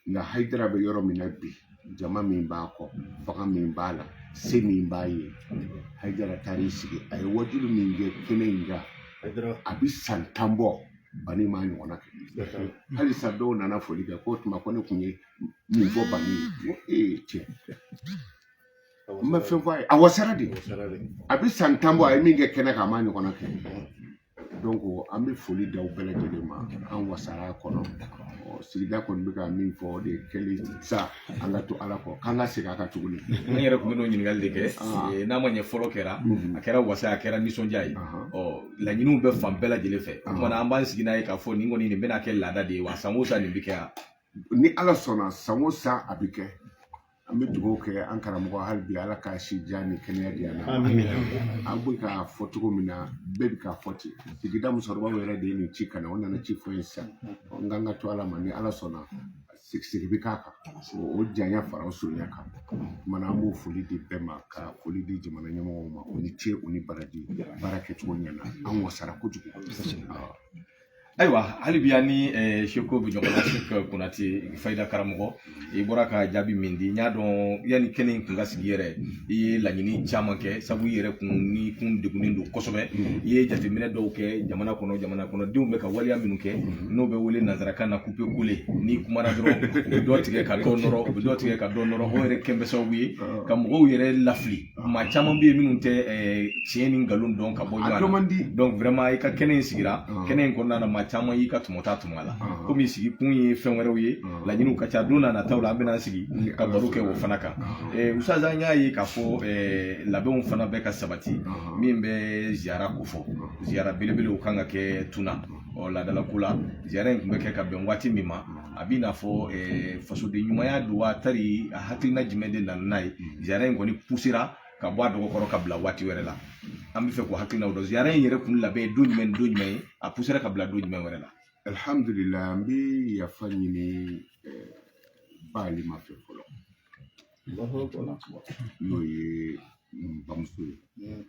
nka hayidara bɛ yɔrɔ min na bi jama min b'a kɔ fanga min b'a la se min b'a ye hayidara taar'i sigi a ye wajuli min kɛ kɛnɛ in kan a bɛ san tan bɔ bani m'a ɲɔgɔnna kɛ halisa dɔw nana foli kɛ ko tuma ko ne tun ye min fɔ bani ye ee cɛ n bɛ fɛn fɔ a ye a wasara de a bɛ san tan bɔ a ye min kɛ kɛnɛ kan a m'a ɲɔgɔnna kɛ an bɛ foli d'aw bɛɛ lajɛlen ma an wasara a kɔnɔ sigida kɔni bɛ ka min fɔ o de kɛlen sa an ka to ala kɔ k'an ka segin a kan tuguni ne yɛrɛ tun bɛ n'o ɲininkali de kɛ n'a ma ɲɛ fɔlɔ kɛra a kɛra wasa a kɛra nisɔndiya ye ɔ laɲiniw bɛ fan bɛɛ lajɛlen fɛ o kuma na an b'an sigi n'a ye k'a fɔ nin kɔni nin bɛna kɛ laada de ye wa san o san nin bɛ kɛ yan ni ala sɔnna san o san a bɛ kɛ an bɛ dugawu kɛ an karamɔgɔ hali bi ala ka si jan ni kɛnɛya di yan an bɛ k'a fɔ cogo min na bɛɛ bɛ k'a fɔ ten sigida musokɔrɔbaw yɛrɛ de ye nin ci ka na o nana ci fɔ ye sisan n kan ka to ala ma ni ala sɔnna sigi bɛ k'a kan o janya fara o surunya kan kuma na an b'o foli di bɛɛ ma ka foli di jamana ɲɛmɔgɔw ma o ni ce o ni baraji baara kɛcogo ɲɛna an wasara kojugu ayiwa hali bi an ni seko bɛ ɲɔgɔn na seko konate fayida karamɔgɔ i bɔra ka jaabi min di n y'a dɔn yanni kɛnɛ in kun ka sigi yɛrɛ i ye laɲini caman kɛ sabu i yɛrɛ kun ni kun degunnen don kosɛbɛ i ye jateminɛ dɔw kɛ jamana kɔnɔ jamana kɔnɔdenw bɛ ka waleya minnu kɛ n'o bɛ wele nanzarakan na couper coller n'i kumana dɔrɔn u bɛ dɔ tigɛ ka dɔ nɔrɔ u bɛ dɔ tigɛ ka dɔ nɔrɔ o yɛrɛ kɛn bɛ sababu ye ka mɔgɔw yɛrɛ lafili maa caman bɛ yen minnu tɛ tiɲɛ ni nkalon dɔn ka bɔ ɲɔgɔn na donc vraiment i ka kɛnɛ in sigira kɛnɛ in kɔnɔna na maa caman y'i ka tɔmɔta tɔmɔ a la komi sigi kun ye fɛn wɛrɛw ye laɲiniw ka ca don na nataw la an bɛna sigi ka baro kɛ o fana kan ustaz an y'a ye k'a fɔ labɛnw fana bɛ ka sabati min bɛ ziyara ko fɔ ziyara belebelew kan ka kɛ tuna ɔ laadalako la ziyara in tun bɛ kɛ ka bɛn waati min ma a b'i n'a fɔ fasoden ɲumanya don wa tari a hakilina jumɛn de nana n'a ye ziyara in kɔni pusera ka bɔ a dɔgɔ kɔrɔ ka bila waati wɛrɛ la an bɛ fɛ k'o hakilinaw dɔn ziyara in yɛrɛ kun labɛn don jumɛn don jumɛn ye a pusera ka bila don jumɛn wɛrɛ la alihamudulila an bɛ yafa ɲini ba alima fɛ fɔlɔ n'o ye n bamuso ye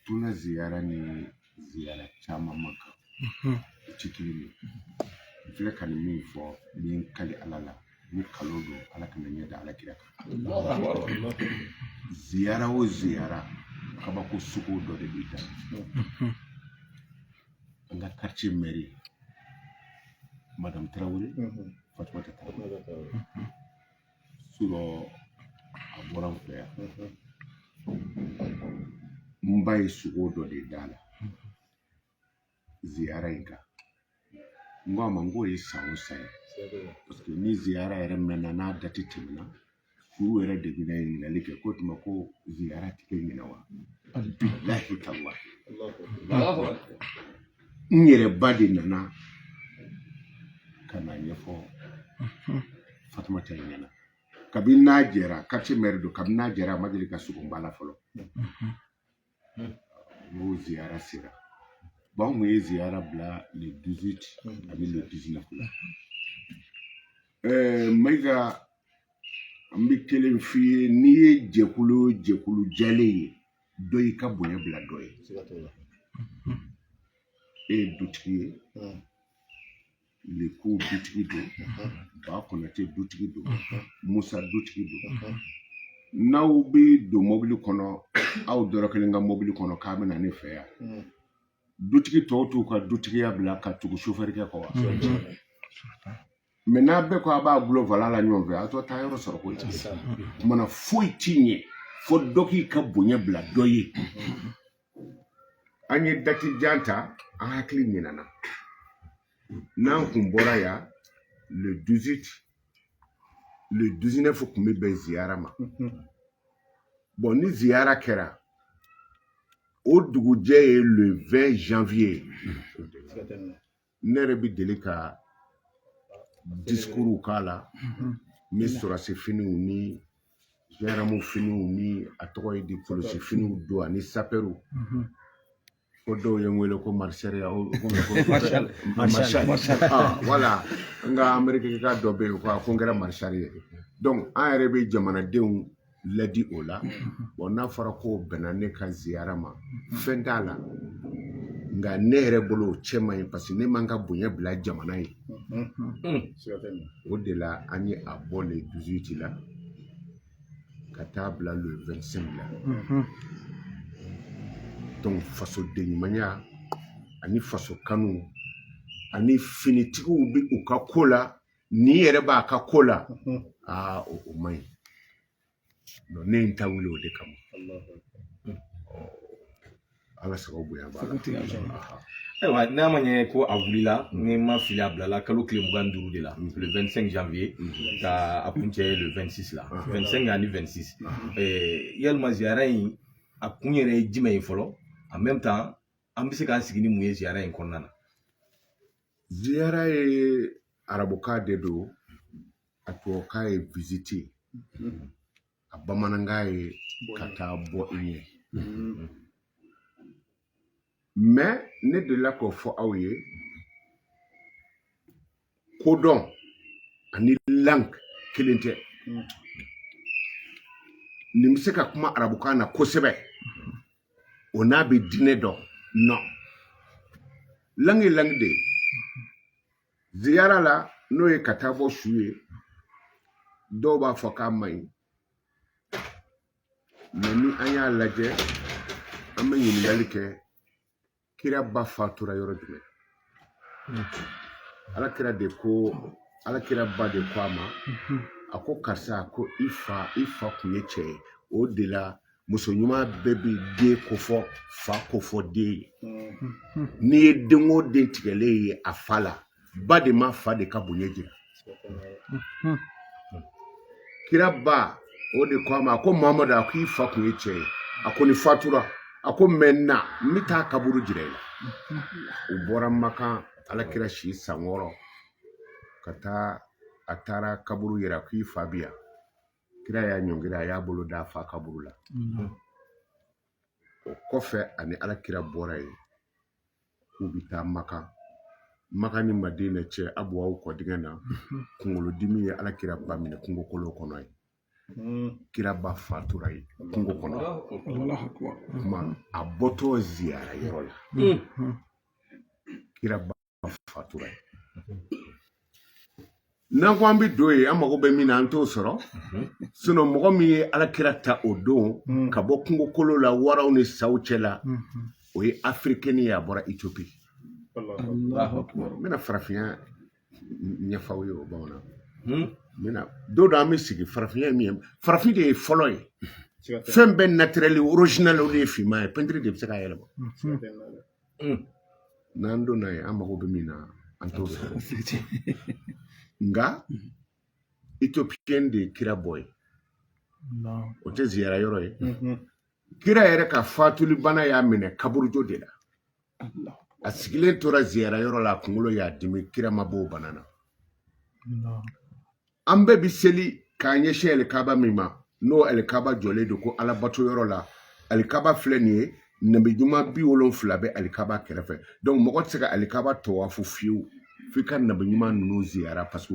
tuna ziyara ni ziara caman man kan o tɛ kelen ye n filɛ ka nin min fɔ ni n kali ala la ni nkalon don ala kana n ɲɛ da ala kira kan ziyara o ziyara kabako sugu dɔ de b'i da an ka quartier mɛri madame tarawele fatumata tarawele a bɔra n fɛ yan n ba ye sogo dɔ de d'a la ziyara in kan n ko a ma n k'o ye san o san ye paseke ni ziyara yɛrɛ mɛnna n'a dati tɛmɛna fure yɛrɛ de bɛna ɲininkali kɛ ko tuma ko ziyara tɛ kɛ ɲinan wa bilahi tallahi n yɛrɛ ba de nana ka n'a ɲɛfɔ fatumata in ɲɛna kabini n'a jɛra quartier maire don kabini n'a jɛra a ma deli ka sogo b'a la fɔlɔ n'o ziyara sera bon an kun ye ziyara bila le 18 ani le 19 la ɛɛ mayiga an bɛ kelen f'i ye n'i ye jɛkulu o jɛkulu jɛlen ye dɔ y'i ka bonya bila dɔ ye e ye dutigi ye leku dutigi don ba konate dutigi don musa dutigi don n'aw bɛ don mɔbili kɔnɔ aw dɔrɔ kelen ka mɔbili kɔnɔ k'a bɛ na ne fɛ yan dutigi tɔw t'u ka dutigiya bila ka tugu sofɛrikɛ kɔ wa mɛ n'a bɛɛ ko a b'a bolo volant la ɲɔgɔn fɛ a t'a taayɔrɔ sɔrɔ ko mana foyi ti ɲɛ fo dɔ k'i ka bonya bila dɔ ye an ye dati jan ta an hakili ɲinana n'an kun bɔra yan le 18 le 19 kun bɛ bɛn ziyara ma bon ni ziyara kɛra o dugujɛ ye le 20 janvier ne yɛrɛ bɛ deli ka discours k'a la n bɛ sɔrɔdasi finiw ni gendarme finiw ni a tɔgɔ ye di polisi finiw don ani sapɛriw ko dɔw ye n wele ko maréchal voilà n ka amerikika dɔ bɛ yen ko a ko n kɛra maréchal ye donc an yɛrɛ bɛ jamanadenw ladi o la bon n'a fɔra k'o bɛnna ne ka ziyara ma fɛn t'a la nka ne yɛrɛ bolo o cɛ man ɲi parce que ne ma n ka bonya bila jamana ye o de la an ye a bɔ le 18 la ka taa bila le 25 la donc fasodenɲumanya ani faso kanu ani finitigiw bɛ u ka ko la n'i yɛrɛ b'a ka ko la aa o o man ɲi Donc, ne ye n ta wuli o de kama ala sababu bonya b'a la Aha. ayiwa n'a ma ɲɛ ko a wulila ni n ma fili a bilala kalo tile mugan ni duuru de la le 25 janvier ka a kuncɛ le 26 la 25 ani 26 Eh, yalima ziyara in a kun yɛrɛ ye jumɛn ye fɔlɔ en même temps an bɛ se k'an sigi ni mun ye ziyara in kɔnɔna na Ziyara ye arabukan de don a tubabukan ye visite a bamanankan ye ka taa bɔ i ye mais ne delila k'o fɔ aw ye kodɔn ani langue kelen tɛ nin bɛ se ka kuma arabukan na kosɛbɛ o n'a bɛ diinɛ dɔn non langue ye langue de ye ziyara la n'o ye ka taa bɔ su ye dɔw b'a fɔ k'a man ɲi mais ni an y'a lajɛ an bɛ ɲininkali kɛ kira ba fatura yɔrɔ jumɛn ala kira de ko ala kira ba de ko a ma a ko karisa ko i fa i fa kun ye cɛ ye o de la muso ɲuman bɛɛ bɛ den kofɔ fa kofɔ den ye n'i ye den o den tigɛlen ye a fa la ba de ma fa de ka bonya jira hmm. kira ba o de ko a ma a ko mamadu a ko i fa kun ye cɛ ye a ko ni fatura a ko maintenant n bɛ taa kaburu jira i la u bɔra makan alakira si san wɔɔrɔ ka taa a taara kaburu yira k'i fa bi yan kira y'a ɲɔngiri a y'a bolo da a fa kaburu la o kɔfɛ ani alakira bɔra yen k'u bɛ taa makan makan ni madina cɛ abuwa kɔdingɛ na kunkolodimi ye ala kira ba minɛ kungo kolo kɔnɔ yen hmm. kira ba fatura yen kungo kɔnɔ kuma a bɔtɔ ziyara yɔrɔ la hmm. kira ba fatura yen n'an ko an bɛ don yen an mago bɛ min na an t'o sɔrɔ sinon mɔgɔ min ye ala kira ta o don hmm. ka bɔ kungokolo la waraw ni saw cɛ la hmm. o ye africain ye a bɔra Ethiopie n bɛna farafinya ɲɛf'aw ye o bamanan hmm. n don dɔ an bɛ sigi farafinya ye min ye farafin de ye fɔlɔ ye fɛn bɛɛ naturel original o de ye finman ye pɛntiri de bɛ se k'a yɛlɛma mm. n'an donna yen an mago bɛ min na an t'o sɔrɔ nka mm. ethiopienne de ye kira bɔ yen o tɛ ziyara yɔrɔ ye mm-hmm. kira yɛrɛ ka fatuli bana y'a minɛ kaburujo de la a sigilen tora ziyara yɔrɔ la a kunkolo y'a dimi kira ma b'o bana na an bɛɛ bi seli k'an ɲɛsin alikaba min ma n'o alikaba jɔlen don ko alabato yɔrɔ la alikaba filɛ nin ye nabi ɲuman bi wolonfila bɛ alikaba kɛrɛfɛ donc mɔgɔ tɛ se ka alikaba tawafu fiyewu f'i ka nabi ɲuman ninnu ziyara parce que